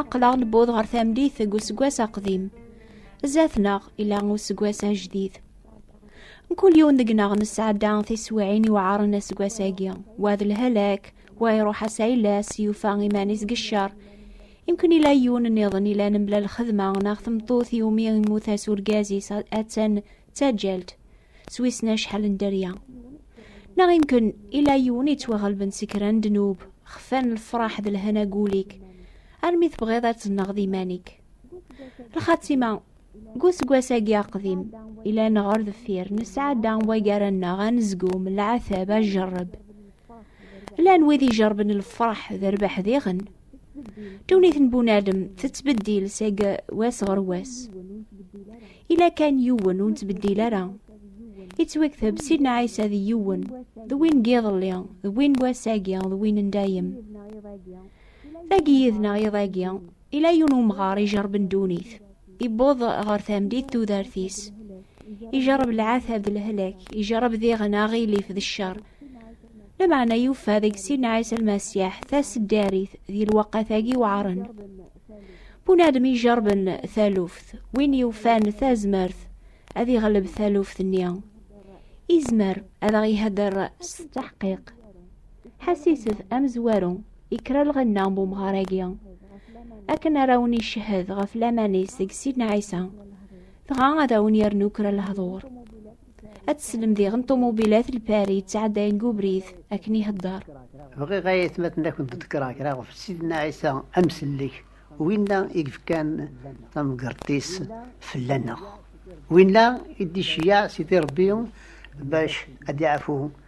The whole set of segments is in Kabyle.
Aqlaɣ newweḍ ɣer tamdit deg useggas aqdim. Zdat-neɣ ila useggas ajdid. Mkul yiwen deg-neɣ nesɛedda tiswiɛin yuɛaren aseggas-agi. Wa d lhalak, wa iruḥ ass ayla-s, yufa iman-is deg ccer. Imkun ila yiwen nniḍen ilan mebla lxedma neɣ tmeṭṭut iwumi immut-as urgaz-is attan d taǧǧalt s wissen acḥal n dderya. Neɣ imken ila yiwen yettwaɣelben si kra n ddnub, xfan lefraḥ d lhana gul-ik, armi tebɣiḍ ad tenneɣ d iman-ik. Lxatima, deg useggas-agi aqdim, ilan ɣer deffir, nesɛedda waggar-nneɣ anezgum, lɛatab, ajerreb. Llan wid ijerben lefraḥ d rbeḥ diɣen. Ddunit n bunadem tettbeddil seg wass ɣer wass. Ila kan yiwen ur nettbeddil ara. Ittwakteb Sidna Ɛisa d yiwen, d win n yiḍelli, d win n wass-agi, d win n dayem. Dagi yid-neɣ iḍ-agi, Ila yun umɣar ijerben dunit, iwweḍ ɣer tamdit tudert-is, ijerreb lɛatab d lehlak, ijerreb diɣen aɣilif d ccer. Lameɛna yufa deg Sidna Ɛisa Lmasiḥ taseddarit di lweqqat-agi weɛren. Bunadem ijerben taluft, win yufan tazmert ad iɣleb taluft-nni, izmer ad aɣ-ihedder s teḥqiq. Ḥassiset amezwaru Ikra lɣenna n umɣar-agi akken ara wen icehhed ɣef laman-is deg Sidna Ɛisa, dɣa ad awen yernu kra lehdur. Ad teslem diɣen ṭumubilat lpari yettɛeddayen deg ubrid akken ihedder. Bɣiɣ ay atmaten ad kent-ḍekkreɣ kra ɣef Sidna Ɛisa Amsellek, winna i yefkan tamgerḍt-is fell-aneɣ, winna i d-iceyyeɛ Sidi Rebbi bac ad d-iɛfu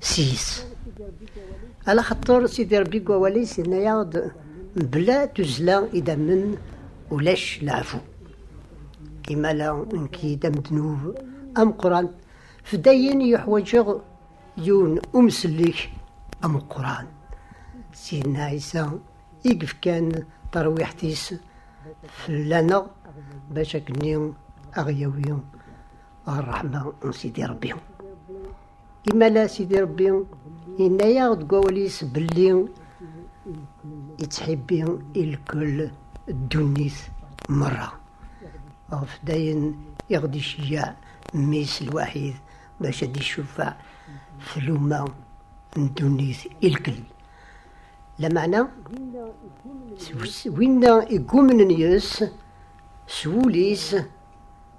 seg-s. Ala xaṭer Sidi Ṛebbi deg wawal-is yenna-yaɣ-d mebla tuzzla idammen ulac leɛfu. Imala nekk d amednub ameqqran fdayen yuḥwaǧeɣ yiwen umsellek ameqqran. Sidna Ɛisa i yefkan tarwiḥt-is fell-aneɣ bac akken-nni aɣ-yawi Ṛṛeḥma n Sidi Ṛebbi. Imala Sidi Ṛebbi yenna-yaɣ deg wawal-is belli yettḥibbi i lkul ddunit merra. Ɣef dayen i ɣ-d-iceyyeɛ mmi-s lwaḥid bac ad d-icufeɛ tluma n ddunit i lkul. Lameɛna, s winna i yumnen yes-s, s wul-is,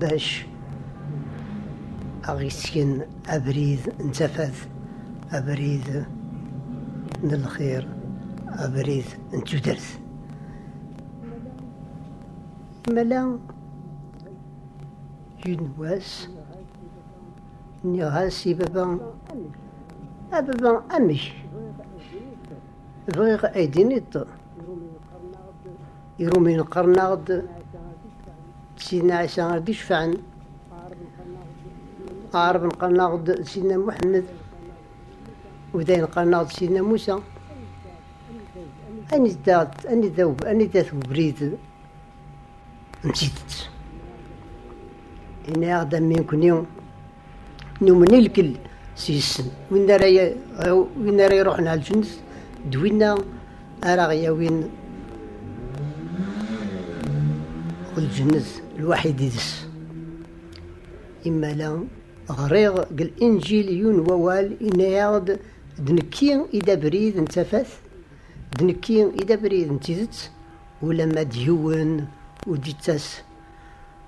Bac aɣ-isken abrid n tafat, abrid n lxir, abrid n tudert. Imala yiwen wass nniɣ-as i baba, a baba amek bɣiɣ ay d-tiniḍ Irumiyen qqaren-aɣ-d d Sidna Ɛisa ar d-icefɛen. Aɛraben qqaren-aɣ-d d Sidna Muḥemmed. Udayen qqaren-aɣ d Sidna Musa. Anida anida anida tubrid n tidet. Ini-aɣ-d am nekkni Numen i lkell s yessen. Win ara win ara iruḥen ɣer lǧennet d winna ara ɣ-yawin lǧennet lwaḥid yid-s. Imala ɣriɣ deg Linǧil yiwen wawal yenna-aɣ-d d nekki i d abrid n tafat, d nekki i d abrid n tidet, ulamma d yiwen ur d-yettas.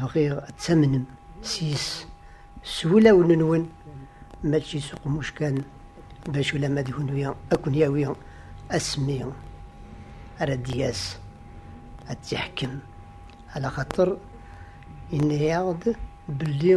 bɣiɣ ad tamnem s yes s wulawen-nwen mačči s uqmuc kan bac ulama d kunwi ad ken-yawi asmi ara d-yas ad tt-iḥkem ala xaṭer yenna-yaɣ-d belli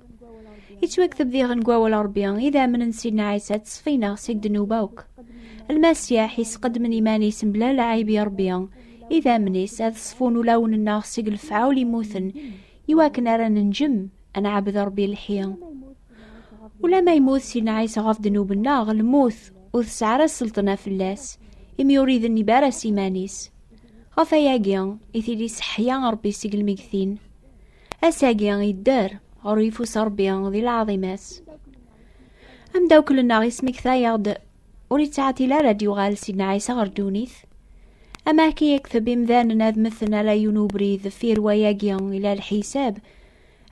Yettwakteb diɣen deg wawal Ṛebbi, idammen n Sidna Ɛisa ttṣefinaɣ seg ddnub akk. Lmasiḥ isqedmen iman-is mebla lɛib i Ṛebbi, idammen-is ad ṣfun ulawen-nneɣ seg lefɛul immuten, iwakken ara nenjem ad nɛabed Ṛebbi lḥi. Ulamma yemmut Sidna Ɛisa ɣef ddnub-nneɣ, lmut ur tesɛi ara sselṭna fell-as, imi ur idennib ara s iman-is. Ɣef ayagi i t-id-iseḥḥya Ṛebbi seg lmegtin. Ass-agi yedder ɣer uyeffus Ṛebbi di lɛaḍima-s. Amdawkel-nneɣ yesmekta-yaɣ-d ur yettɛetil ara d-yuɣal Sidna Ɛisa ɣer ddunit. Ama akka yekteb imdanen ad mmten ala yiwen ubrid deffir wayagi ila lḥisab.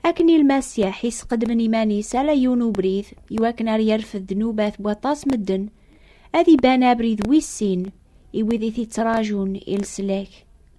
Akken i Lmasiḥ yesqedmen iman-is ala yiwen ubrid iwakken ar yerfed ddnubat n waṭas medden, ad iban abrid wis sin i wid i t-ittrajun i leslak.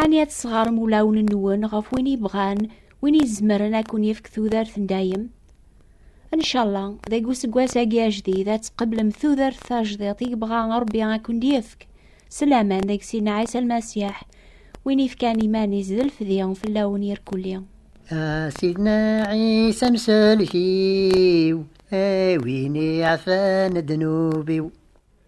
Ɛni ad tesɣarem ulawen-nwen ɣef win yebɣan, win izemren ad kun-yefk tudert n dayem? Ncalla, deg useggas-agi ajdid ad tqeblem tudert tajdiṭ i yebɣa Rebbi ad kun-d-yefk, s laman deg Sidna Ɛisa Lmasiḥ, win yefkan iman-is d lefdi fell-awen irkelli. A Sidna Ɛisa amsellek-iw, a win iɛfan ddnub-iw.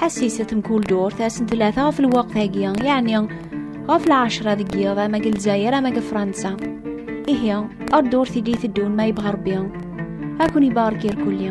Ḥassiset mkul durt asen tlata ɣef lweqt-agi, yeɛni ɣef lɛecra deg yiḍ ama deg Lezzayer ama deg Fransa. Ihi, ar durt i d-iteddun ma yebɣa Rebbi, ad ken-ibarek irkulli.